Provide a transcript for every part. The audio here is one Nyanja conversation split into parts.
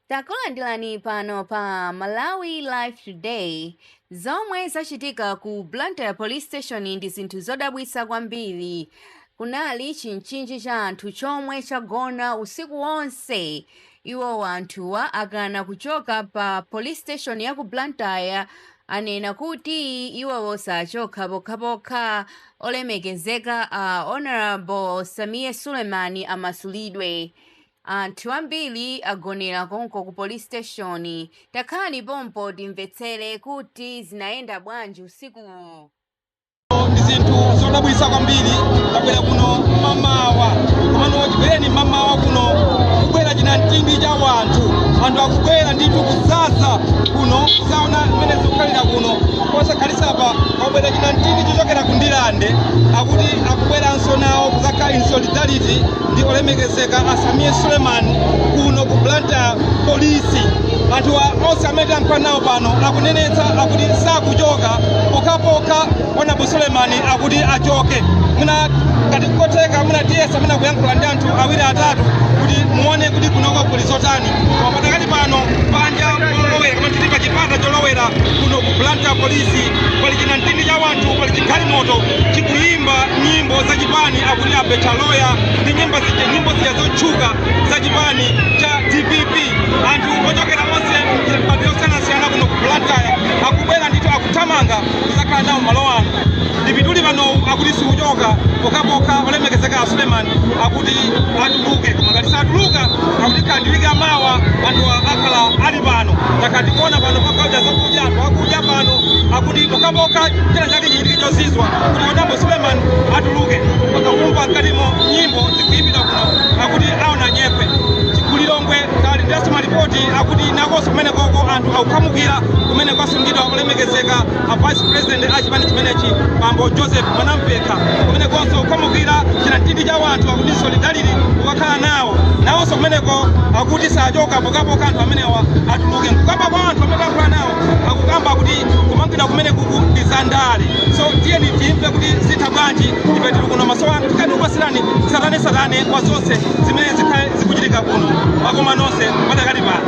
takulandirani pano pa malawi life today zomwe zachitika ku blantyre police station ndi zinthu zodabwitsa kwambiri kunali chinchinji cha anthu chomwe chagona usiku wonse iwo anthuwa akana kuchoka pa police station ya ku blantyre anena kuti iwowo sachoka pokhapokha olemekezeka a honorable sameer suleman amasulidwe Anthu ambiri agonera konko ku police station, takhalani pompo timvetsere kuti zinayenda bwanji usikuwo. ndi zinthu zodabwitsa kwambiri tabwera kuno mamawa komano chibwereni mamawa kuno kubwera chinamtindi cha wanthu anthu akubwera ndithu kudzadza kuno kuzaona mmene zikukhalira kuno posakhalitsapa kwabwera chinamtindi chochokera ku ndirande akuti akubweranso nawo kuzakhala in solidarity ndi olemekezeka a Sameer Suleman kuno ku Blantyre polisi anthu a- onse amene tayankhula nawo pano akunenetsa akuti sakuchoka pokhapokha honorable Suleman akuti achoke mwina ngati nkotheka mwina tiyesa mwina kuyankhula ndi anthu awiri atatu kuti muone kuti kunoko kuli zotani koma pakadali pano panja polowera koma tili pa chipata cholowera kuno ku Blantyre polisi pali chinamtindi cha wanthu pali chigalimoto chikuyimba nyimbo za chipani akuti abetcha loya ndi nyimbo zija zotchuka za chipani cha dpp anthu ochokera onse mipando yosiyanasiyana kuno ku blantyre akubwera ndithu akuthamanga kuzakhala nawo malo ano ndipituli panowu akuti sikuchoka pokhapokha olemekezeka a suleman akuti atuluke koma ngati satuluka akuti kaya ndi wiki yamawa anthu akhala ali pano takhala tikuona pano pagawidwa zakudya anthu akudya pano akuti pokhapokha china chake chichitike chozizwa kuti honorable suleman atuluke mpaka kumva mkatimo nyimbo zikuyimbidwa kuno akuti aona nyekhwe ku lilongwe talandiranso malipoti akuti nakonso kumenekoko anthu akukhamukira kumene kwasungidwa olemekezeka a vice president a chipani chimenechi bambo joseph mwanamvekha kumenekonso kukhamukira chinamtindi cha wanthu akuti solidarity kukakhala nawo nawonso kumeneko akuti sachoka pokhapokha anthu amenewa atuluke mkukamba kwa anthu amene akukhala nawo akukamba kuti kumangidwa kumenekuku ndi za ndale so tiyeni timve kuti zitha bwanji ife tili kuno maso anu tikhala tikupatsirani tsatanetsatane kwa zonse zimene zikhale zikuchitika kuno makoma nonse padakali pano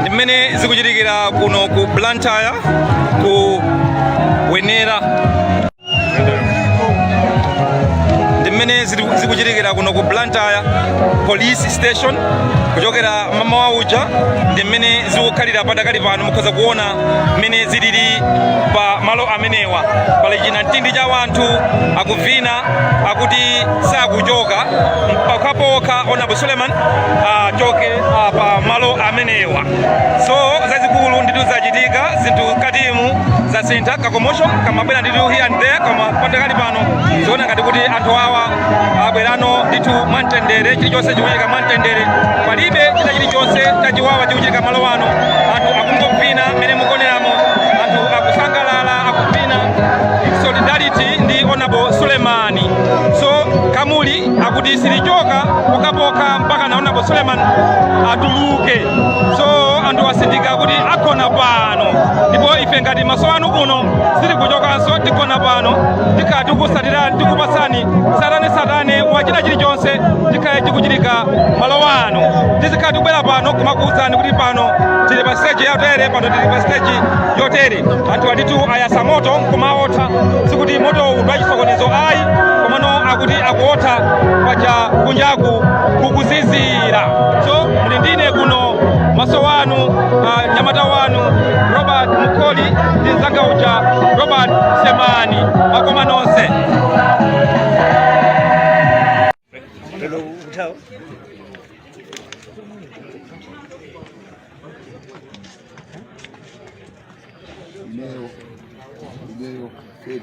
ndi mmene zikuchitikira kuno ku blantyre ku wenera ndi mmene zili- zikuchitikira kuno ku blantyre police station kuchokera mamawa uja ndi mmene zikukhalira padakali pano mukhoza kuona mmene zilili pa malo amenewa pali chinamtindi cha wanthu akuvina akuti sakuchoka pokhapokha honorable suleman achoke ah, pa malo amenewa so zazikulu nditu zachitika zinthu katimu zasintha ka commotion kamabwera nditu here and there koma padakali pano ziona ngati kuti anthu awa abwera pano ndithu mwamtendere chilichonse chikuchitika mwamtendere palibe china chilichonse chachiwawa chikuchitika malo ano anthu akungovina mmene mukuoneramo anthu akusangalala akuvina solidarity ndi honorable sulemani so gululi akuti silichoka pokapoka mpaka honorable Suleiman atuluke so anthu atsindika kuti agona pano ndipo ife ngati maso anu kuno sitikuchokanso tigona pano tikhala tikutsatira tikupatsani tsatane tsatane wa china chilichonse chikhale chikuchitika malo ano tizikhala tikubwera pano kumakuwuzani kuti pano tili pa stage yotere pano tili pa stage yotere anthu aditu ayasa moto nkumaotha sikuti moto uwu ndi wachisokonezo ayi komano akuti akuotha paja kunjaku kukuzizira so muli ndine kuno maso wanu uh, nyamata wanu robert mukoli ndi mzanga uja robert semani wakoma nonse Hello, Utah. Ineo, Ineo, Keri.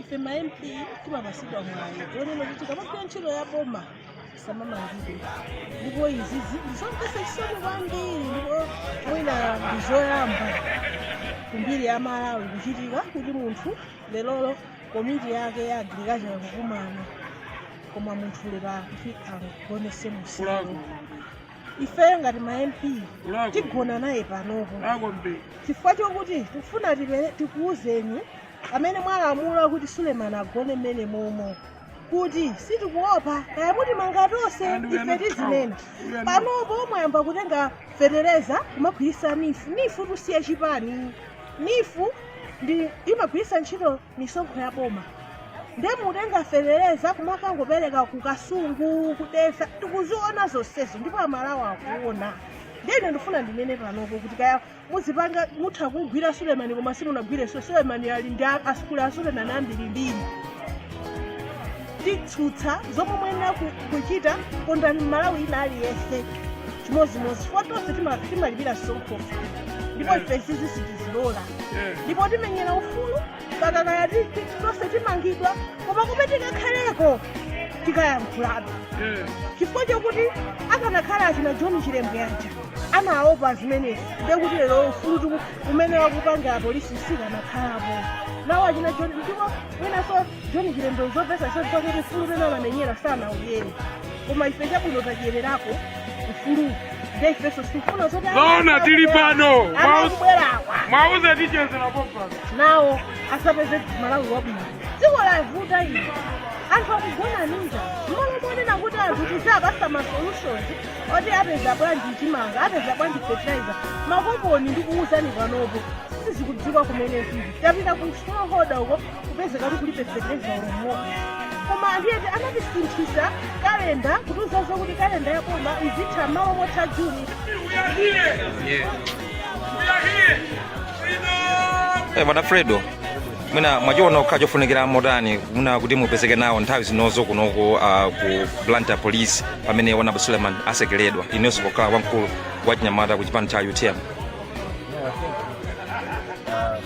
ife ma mp timapatsidwa mwayi onena kuti tikamagwira ntchito ya boma samamangidwe ndipo izizi ndizomvesa chisoni kwambiri ndipo mwina ndizoyamba kumbiri ya malawi kuchitika kuti munthu lerolo komiti yake ya agriculture kukumana koma munthu lero akuti agonetse usiku ifeyo ngati ma mp tigona naye panopo chifukwa chokuti tikufuna tikuuzeni amene mwalamula kuti sulemani agone mmene momo kuti sitikuopa kaya mutimanga tonse ife tizinena panopo mwayamba kutenga fetereza kumagwiritsa nifu nifu tusiye chipani nifu ndi imagwiritsa ntchito misonkho ya boma nde mukutenga fetereza kumakangopereka ku kasungu ku dedza tikuziona zonsezo ndipo amalawi akuona ndine ndifuna ndinene panopo kuti kaya muzipanga mutha kugwira sulemani koma simunagwire sulemani ali ndi a- asukulu a sulemani ambirimbiri titsutsa zomwe mwenera ku- kuchita kondani mmalawi wina aliyense chimodzimodzi chifukwa tonse tima- timalipira msonkho ndipo ife izizi sitizilola ndipo timenyera ufulu mpaka kaya tonse timangidwa koma kumene tikakhaleko tikayankhulabe chifukwa chokuti akanakhala achina john chilembwe yaja anaopa zimenezi ndekuti lero ufulu umene akupanga apolisi sukanakhalapo nawo achina john ndipo mwinaso john chilembwe uzapeza zoti pakuti ufulu umene anamenyera sana uyeni koma ife chabwino tadyererako ufulu nde ifenso sikufuna zoti Zoona tili pano. anakubwerawa mwauze tichezera popano nawo asapeze malawi wabwino dziko lavuta ino anthu akugona ndi njala mmalo monena kuti anthu tizapasa ma solutions oti apeza bwanji chimanga apeza bwanji fertilizer makoponi ndi kuwuzani panopo sizikudziwika kumene zili tapita ku smallholder uko kupezeka kuti kulibe feteleza olo m'modzi koma anthu ete anatisinthisa kalenda kutiuza zokuti kalenda ya boma izitha malo motha juni Eh, bwana fredo mwina mwachiona kukhala chofunikira motani ena kuti mupezeke nawo nthawi zinozi kunoko uh, ku blantyre police pamene honourable suleiman atsekeredwa inunso pokhala wamkulu wa chinyamata ku chipani cha utm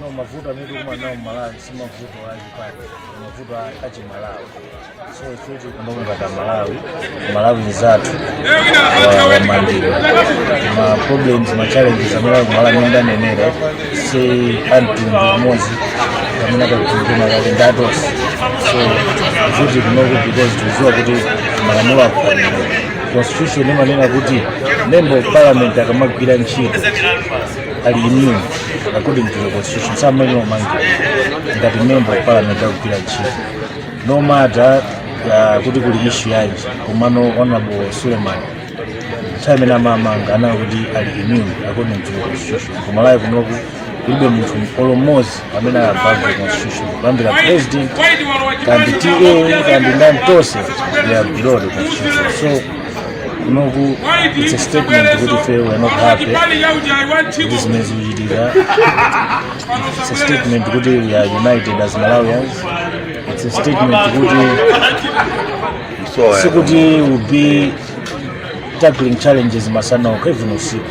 no mavuto amene tikumana nawo mmalawi si mavuto a chipani mavuto a chimalawi so ife tili kuno ngati amalawi mmalawi nzathu wamangidwa ma problems ma challenges amene ali kumalawi amene ndanenera si amtundu umodzi amene akakutumikira kale ndi atonse so ife tili kunoku because tikuziwa kuti malamulo akufanira constitution imanena kuti member of parliament akamagwira ntchito ali immune according to the constitution samayenera omangidwa ngati member of parliament akugwira ntchito no matter uh, kuti kuli ishu yanji komano honorable suleman nthawi imene amamanga anali kuti ali immune according to the constitution kumalawi kunoku kulibe munthu olo mmozi amene ali above the constitution kuyambira president kaya ndi ta kaya ndi ndani tonse they are below the constitution so kunoku it's a statement kuti ife we're not happy ndi zimene zikuchitika it's a statement kuti we are united as malawians it's a statement kuti sikuti we'll be tackling challenges masana okha even usiku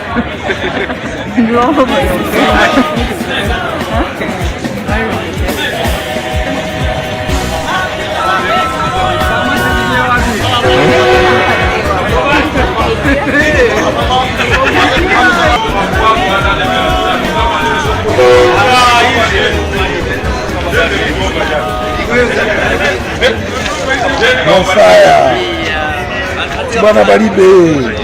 mofaya bwana balibe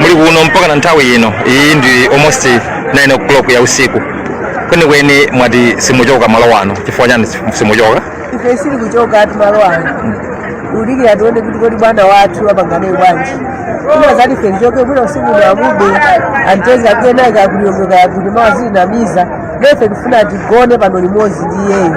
muli kuno mpaka na nthawi ino iyi ndi almost 9 o'clock ya usiku kwenikweni mwati simuchoka malo wano chifukwa chani simuchoka ife sitikuchoka ayi malo ano ulikira tione kuti kodi bwana wathu apangane bwanji ina zati ife tichoke bwino usiku uno amube ampereka kena kakuliongoka kuti mawa azitinamiza nde ife tifuna tigone pano limodzi ndi iyeyo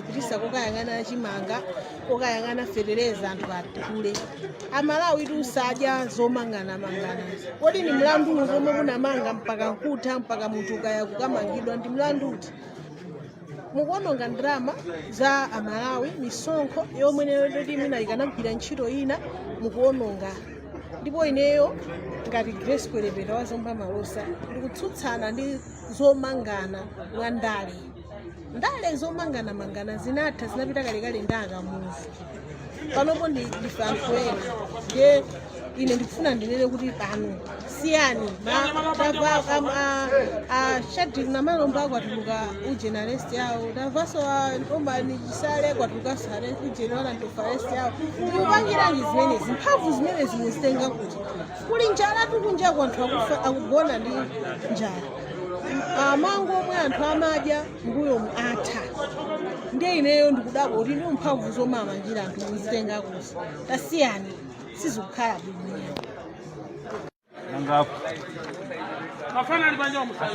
kupititsa kokayang'ana chimanga kokayang'ana fetereza anthu aphule amalawi tisadye zomanganamangana kodi ni mlandu uti omwe munamanga mpaka nkutha mpaka munthu ukaika kukamangidwa ndi mlandu uti mukuononga ndalama za amalawi misonkho yomwe ndi yoti mwina ikanagwira ntchito ina mukuononga ndipo ineyo ngati grace kwelepeta wa zomba malosa ndikutsutsana ndi zomangana mwa ndale ndale zomanganamangana zinatha zinapita kalekale ndi akamuzu panopo ndife anthu ena ndiye ine ndikufuna ndinene kuti pano siyani a shadric namalomba kwatuluka ujeni arrest yawo tamvanso a norman chisale kwatulukanso ujeni warrant of arrest yawo mukupangiranji zimenezi mphamvu zimenezi muzitenga kuti kuli njala kunjaku anthu akugona ndi njala mango omwe anthu amadya mbuyomu atha ndiye ineyo ndikudabwa kuti ndi mphamvu zomwe amamangira anthu muzitenga kuti tasiyani sizikukhala bwino Mafana alipanja wa musali.